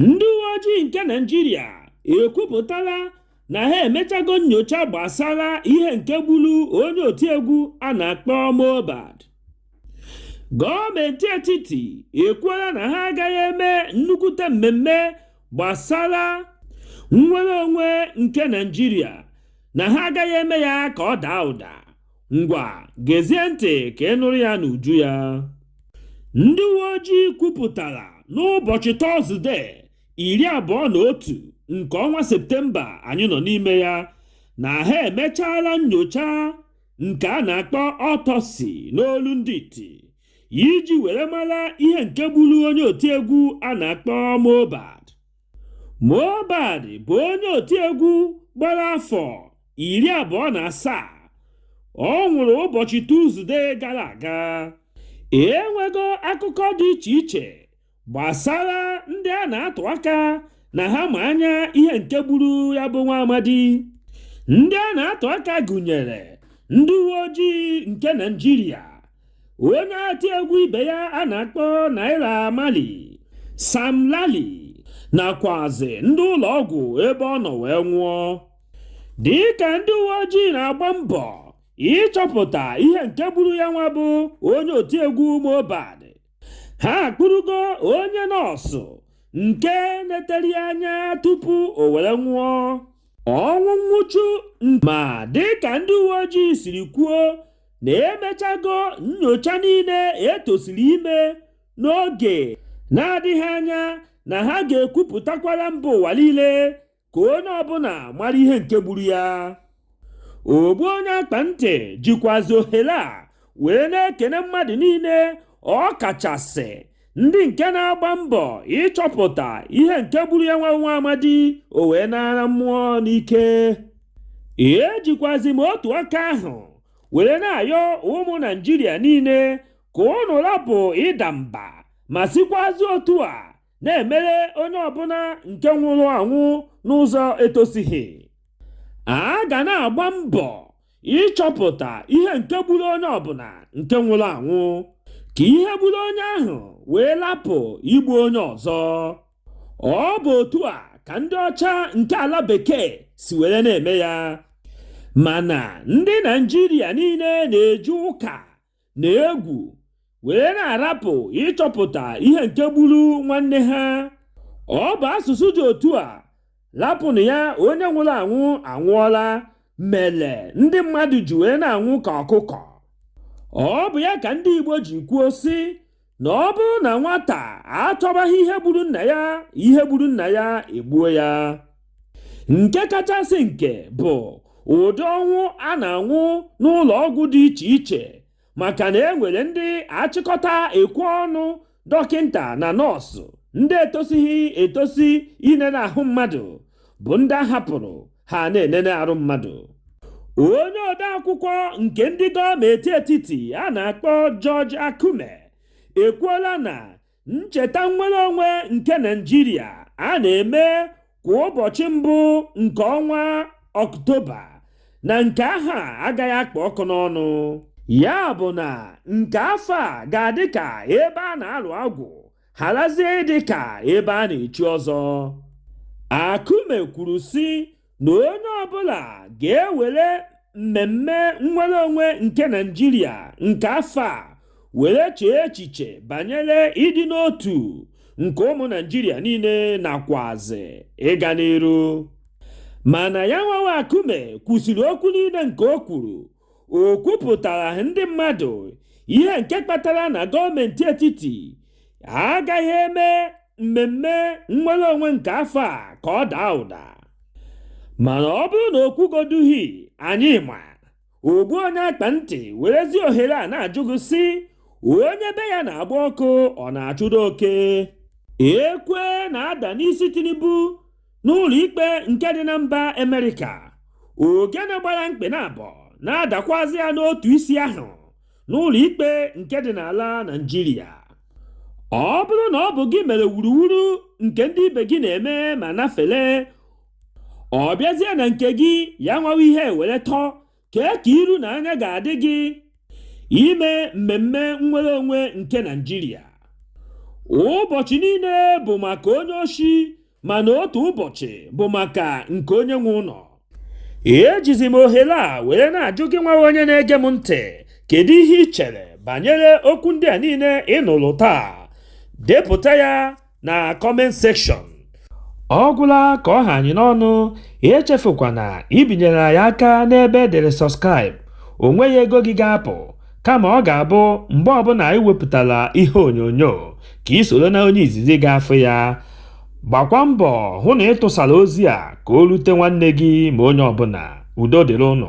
ndị uwe ojii nke naijiria ekwupụtala na ha emechago nnyocha gbasara ihe nke gburu onye otiegwu a na-akpọ Mohbad gọọmenti etiti ekwuola na ha agaghị eme nnukwute mmemme gbasara nnwere onwe nke naijiria na ha agaghị eme ya ka ọ daa ụda ngwa gezie ntị ka ị nụrụ ya n'uju ya ndị uwe ojii kwupụtara n'ụbọchị tọzde iri abụọ na otu nke ọnwa septemba anyị nọ n'ime ya na ha emechaala nnyocha nke a na-akpọ autopsy n'olu ndị iti iji were mara ihe nke gburu onye otiegwu a na-akpọ Mohbad Mohbad bụ onye otiegwu gbara afọ iri abụọ na asaa ọ nwụrụ ụbọchị Tuzde gara aga. E nwego akụkọ dị iche iche gbasara ndị a na-atụ aka na ha ma anya ihe nke gburu ya bụ nwa amadi. Ndị a na-atụ aka gụnyere ndị uwe ojii nke Naịjirịa onye otiegwu ibe ya a na-akpọ Naira Marley Sam Larry nakwazi ndị ụlọ ọgwụ ebe ọ nọ wee nwụọ dịka ndị uwe ojii na-agba mbọ ịchọpụta ihe nke gburu ya nwa bụ onye otiegwu Mohbad ha akpụrụgo onye nọọsụ nke netere ya anya tupu o were nwụọ ọnwụ nwụchu ma dịka ndị uwe ojii siri kwuo na emechago nyocha niile etosiri ime n'oge na-adịghị anya na ha ga-ekwupụtakwara mba ụwa niile ka onye ọbụla mara ihe nke gburu ya ogbu onye akpa ntị jikwazi ohere a wee na-ekene mmadụ niile ọ kachasị ndị nke na-agba mbọ ịchọpụta ihe nke gburu ya nwa bụ nwa amadi o wee nara mmụọ n'ike ejikwazi m otu aka ahụ were na-ayọ ụmụ naijiria niile ka unu rapụ ịda mba ma sikwazi otu a na-emere onye ọbụla nke nwụrụ anwụ n'ụzọ etosighi a ga na-agba mbọ ịchọpụta ihe nke gburu onye ọbụla nke nwụrụ anwụ ka ihe gburu onye ahụ wee lapụ igbu onye ọzọ ọ bụ otu a ka ndị ọcha nke ala bekee si were na-eme ya mana ndị naijiria niile na-eji ụka na egwu were na-arapụ ịchọpụta ihe nke gburu nwanne ha ọ bụ asụsụ dị otu a lapụnụ ya onye nwụrụ anwụ anwụọla mere ndị mmadụ ji wee na-anwụ ka ọkụkọ ọ bụ ya ka ndị Igbo ji kwuo sị na ọ bụrụ na nwata achọbaghị ihe gburu nna ya ihe gburu nna ya egbuo ya nke kachasị nke bụ ụdị ọnwụ a na-anwụ n'ụlọ ọgwụ dị iche iche maka na e nwere ndị achịkọta ekwe ọnụ dọkịnta na nọọsụ ndị etosighị etosi inene ahụ mmadụ bụ ndị a hapụrụ ha na-enene arụ mmadụ onye odeakwụkwọ nke ndị gọọmenti etiti a na-akpọ George Akume ekwuola na ncheta nnwere onwe nke Naịjirịa a na-eme kwa ụbọchị mbụ nke ọnwa Ọktoba na nke ahọ a agaghị akpụ ọkụ n'ọnụ ya bụ na nke afọ a ga-adị ka ebe a na-alụ agwụ harazie ịdị ka ebe a na-echi ọzọ Akume kwuru sị na onye ọbụla ga-ewere mmemme nnwere onwe nke Naịjirịa nke afọ a were chee echiche banyere ịdị n'otu nke ụmụ Naịjirịa niile nakwazi ịga n'iru mana ya nwawa Akume kwusịrị okwu niile nke o kwuru o kwupụtaraghị ndị mmadụ ihe nke kpatara na gọọmenti etiti agaghị eme mmemme nnwere onwe nke afọ a ka ọ daa ụda mana ọ bụrụ na o kwugoduhi anyị ma ogbu onye akpa ntị werezi ohere a na-ajụ gị sị onye be ya na-agba ọkụ ọ na-achụdụ oke ekwe na-ada n'isi Tinubu n'ụlọ ikpe nke dị na mba Amerịka ogene gbara mkpị na abọ na-adakwazị ya n'otu isi ahụ n'ụlọ ikpe nke dị n'ala Naịjirịa ọ bụrụ na ọ bụ gị mere wuruwuru nke ndị ibe gị na-eme ma nafele ọ bịazie na nke gị ya nwawa ihe were tọọ Kee ka iru na anya ga-adị gị ime mmemme nnwere onwe nke Naịjirịa? Ụbọchị niile bụ maka onye oshi mana otu ụbọchị bụ maka nke onye nwe ụlọ. Ejizi m ohere a were na-ajụ gị nwawa onye na-ege m ntị kedu ihe ị chere banyere okwu ndị a niile ị nụrụ taa? Depụta ya na comment section ọ gwụla ka ọ ha anyị n'ọnụ echefukwana ibinyere anyị aka n'ebe e dere subscribe o nweghị ego gị ga-apụ kama ọ ga-abụ mgbe ọbụla anyị wepụtara ihe onyonyo ka i soro na onye izizi ga-afụ ya gbakwa mbọ hụ na ị tụsara ozi a ka o rute nwanne gị ma onye ọbụla udo dịrị ụnụ